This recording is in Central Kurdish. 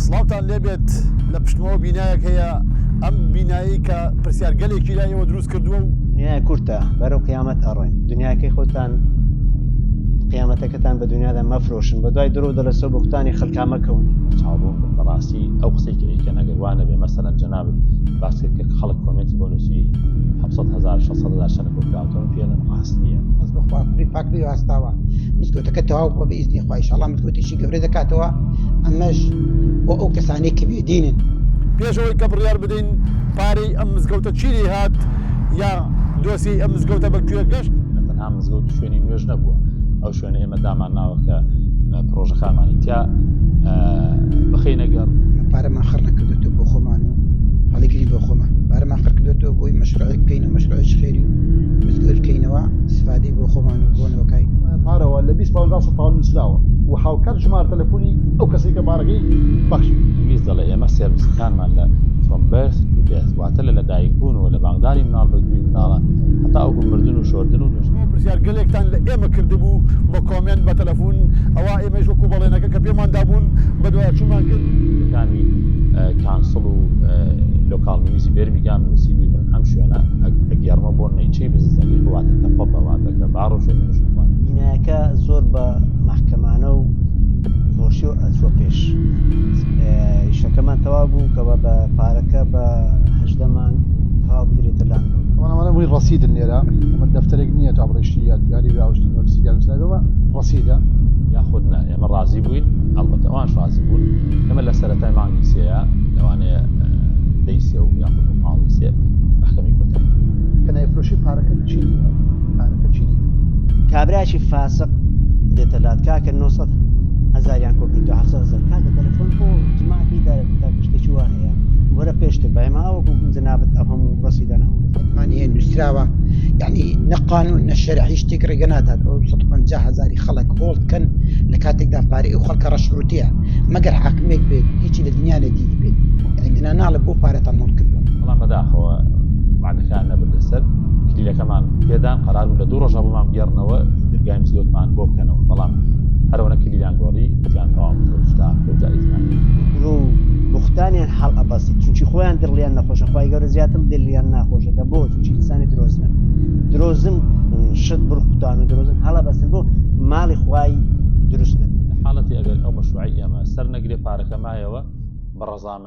سڵاوتان لێبێت لە پشتمەوە بینایەک هەیە ئەم بینایی کە پرسیار گەلێکی لای ئێوە دروست کردووە و دنیای کورتە بەرەو قیامەت ئەڕۆین دنیاکەی خۆتان قیامەتەکەتان بە دنیادا مەفرۆشن بە دوای درۆ دەلەسە بختانی خەلکامەکەون چاڵۆ بەڕاستی ئەو قسەی کە ئەیکە نەگەروانە بێ مەسەرەن جەناب باسکرد کە خەڵک کۆمێنتی بۆ نووسی 1970 شەنە کۆکراوتەوە پێڵن ڕاستە بەخواپری پاکری هەستاوە مزگەوتەکە تەواو بۆ بە ئیزنی وایشەڵا ملکوتیشی گەورە دەکاتەوە ئەمەش بۆ ئەو کەسانی کە بێدینن پێشەوەی کە بڕیار بدەین پارەی ئەم مزگەوتە چی لێ هات یا دۆسیی ئەم مزگەوتە بە کوێ گەشت تەنها مزگەوت شوێنی نوێژ نەبووە ئەو شوێنە ئێمە دامان ناوە کە پرۆژەکانمانی تیا بخینە گەڕ پارەمان خڕ نەکردێتەوە بۆ خۆمان و هەڵیگری بۆ خۆمان پارەمان خڕکردێتەوە بۆی مەشرعی بکەین و مەشرعش خێری و مزگەوت بکەینەوە سفادەی بۆ خۆمان و بۆ نۆکای پارەوە لە بیست پاوندا سەد پاون نووسراوە و هاوکات ژمارە تەلەفۆنی ئەو کەسەی کە پارەکەی بەخشی. ئینگلیز دەڵێ ئێمە سێرڤیسەکانمان لە From Birth to Death واتە لە لەدایکبوونەوە لە بانگدانی مناڵ بە گوێی مناڵە هەتاوەکو مردن و شۆردن و نوێژ. پرسیارگەلێکتان لە ئێمە کردبوو بە کۆمێنت بە تەلەفون ئەوا ئێمەیش وەکو بەڵێنەکە کە پێمان دابوون بەدوایاچوونمان کرد. کامی کانسڵ و لۆکاڵنیوزی بێرمیگام نووسیبووی من ئەم شوێنە ئەگێڕمە بۆ نەیچەی بززنەکەی خۆ واتە کە پەبە واتە. بینایەکە زۆر بە مەحکەمانە و خۆشی و ئەچوە پێش شەکەمان تەوا بوو کەەوە بە پارەکە بە هەشدەمان تەوا بدرێتە لاند ئەوانەوانە بووی ڕسیدن لێرە ئەمە دەفتەرێک نییە تا بڕشتی یادگاری راوشتی نۆرسی گەرمسەوە ڕسیدە یاخود نا ئێمە ڕازی بووین ئەڵبەتەوان شازی بوون ئەمە لە سەرەتای مانگی سەیە لەوانەیە دەیسێ و یاخود و پاڵی سێ محکەمی کۆتایی کە نایفرۆشی پارەکە چی پارەکە چی کابراکی فاسق دێتە لات کاکە 900 هزاریان کۆ کردو هەفسە هزار کاکە تەلەفۆن بۆ جماعەتی دارێت تا کشتێکی وا هەیە وەرە پێشتر بایما وەکو جنابەت ئەو هەموو ڕسیدان هەموو دەفەتمان هەیە نووسراوە یعنی نەقانون نە شەرعی شتێک ڕێگە نادات ئەو 150 هزاری خەڵک هۆڵد کەن لە کاتێکدا پارەی ئەو خەڵکە ڕەشروتەیە مەگەر حاکمێک بێت هیچی لە دنیا نەدیری بێت یعنی دنا ناڵە بۆ پارەتان هەڵ کردوە بەڵام بەداخەوە کار نەبردە سەر کلیلەکەمان پێدان قرار بوو لە دوو ڕۆژە بۆمان بگەڕنەوە درگای مسلوتمان بۆ بکەنەوە بەڵام هەرەوەە کلیلان گۆڕی وتیان تەواو تۆشتا خۆجا ئیزمان درۆ و بختانیان حاڵ ئەبەسی چونچی خۆیان دڵیان نەخۆشە خی گەورە زیاتر دلیان ناخۆشەکە بۆ چونچی ئینسانی درۆزنە درۆزن شت بڕختان و درۆزن هەڵە بەسن بۆ ماڵی خوای دروست نەبێت حاڵەتی ئەگەر ئەو مەشوعی ئێمە سەر نەگرێ پارەکە مایەوە بە ڕزامە